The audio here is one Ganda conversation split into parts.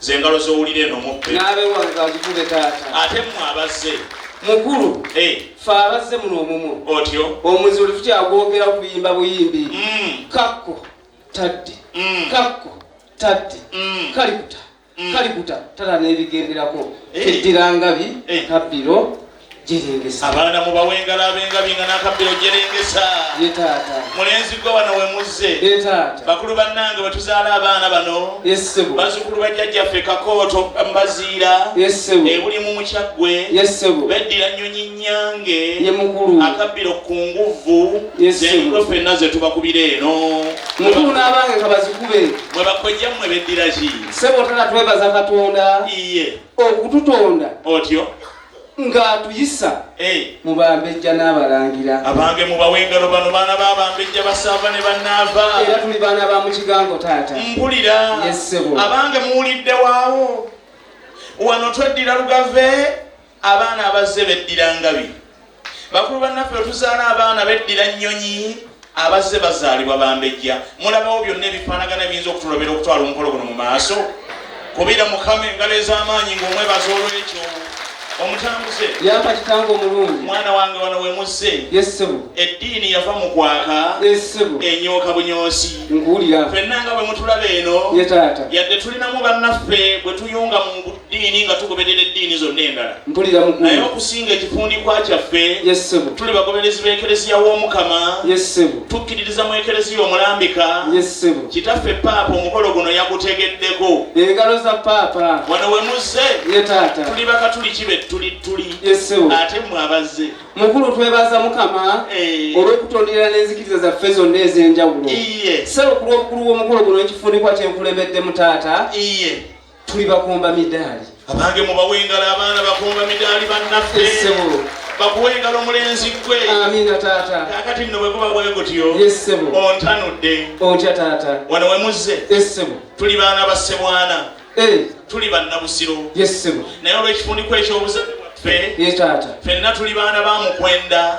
ze ngalo z'owulira eno muppe n'abe wange azikube taata ate mmwe abazze mukulu eh. fe abazze muno omumu otyo omuzi oli tukyagwogera okuyimba buyimbi mm. kakko tadde mm. kakko tadde mm. kalikuta kalikuta tata n'ebigenderako eh. eddira ngabi kabbiro abaana mubawe engalo abengabi nga nakabbiro jerengesa mulenzi gwe wano wemuzze bakulu bannange wetuzaala abaana bano bazukulu bajjajjaffe kakooto mbaziira ebuli mu mukyaggwe beddira nyonyi nyange akabbiro ku nguvvu zenkulo fenna zetubakubira eno mukulu n'abange kabazikube mwe bakojja mmwe beddira ki sebo tana twebaza katonda iye okututonda otyo ng'atuyisa eh. mu bambejja n'abalangira abange mubawe engalo bano baana ba bambejja basaava ne bannaava era tuli baana ba mukigango taata mpulira yessebo abange muwulidde waawo wano tweddira lugave abaana abazze beddira ngabi bakulu bannaffe wetuzaala abaana beddira nnyonyi abazze bazaalibwa bambejja mulabawo byonna ebifaanagana ebiyinza okutulobera okutwala omukolo guno mu maaso kubira mukama engalo ez'amaanyi ng'omwebaza olw'ekyo omutambuze yampa kitange omulungi mwana wange wano wemuzze yesebo eddiini yava mu kwaka yesebo enyooka bunyoosi nkuwulira fenna nga bwe mutulaba eno ye taata yadde tulinamu bannaffe bwe tuyunga mu ddiini nga tugoberera eddiini zonna endala naye okusinga ekifundikwa kyaffe tuli bagoberezi b'ekereziya w'omukama tukkiririza mu ekereziya omulambika kitaffe paapa omukolo guno yagutegeddeko engalo za paapa wano we muzze tuli bakatuliki be tuli tuli ate mwe abazze mukulu twebaza mukama eh. olw'okutondera n'enzikiriza zaffe zonna ez'enjawulo sebo ku lw'obukulu bw'omukolo guno ekifundikwa kyenkulembeddemu taata tuli bakomba midaali abange mubawengala abaana bakomba midaali bannaffe bakuwengala omulenzi gwe amina taata kakati nno bweguba bwegutyo yesebo ontanudde otya taata wano wemuzze esebo tuli baana ba sebwana eh. tuli bannabusiro yesebo naye olwekifundikwa ekyobuzadde bwaffe fenna tuli baana ba mukwenda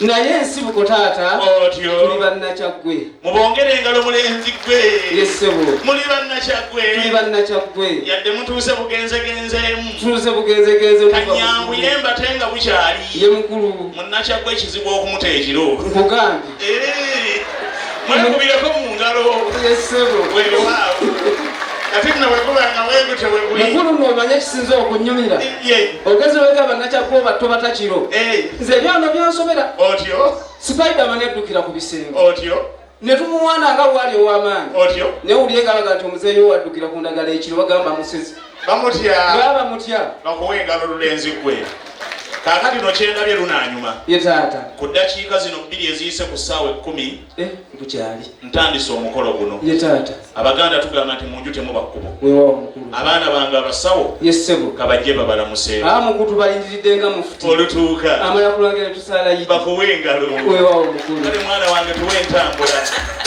naye ensibuko taata otyo tuli bannakyaggwe mubongere engalo mulenzi ggwe yesebo muli bannakyaggwe tuli bannakyaggwe yadde mutuuse bugenzegenzeemu tuuse bugenzegenze kanyanguye mbate nga bukyali ye mukulu munnakyaggwe ekizibu okumuta ekiro nkugambye eh, mwekubireko mu ngalo yesebo wewaawo mukulu nomanya ekisinza okunyumira ogezi wegamba nakyakuba obatto batakiro eh. nze byona byansobera otyo sipaidama neddukira ku bisenge otyo ne tumuwaana nga bwali ow'amaanyi otyo naye wulire ngalaga nti omuzeeyo waddukira ku ndagala ekiro bagamba musezi bamutya bamutya bakuwa engalo lulenzi gwe kakati no kyendabye lunanyuma ye taata ku ddakiika zino bbiri eziyise ku ssaawa ekkumi Eh, bukyali ntandise omukolo guno ye taata abaganda tugamba nti munju temuba kkubo wewawo mukulu abaana bange abasawo ye ssebo kabajje babalamuse a ah, mukutu balindiridde nga mufuti olutuuka amala kulwagera tusaalayi bakuwa engalo wewawo mukulu kale mwana wange tuwa entambula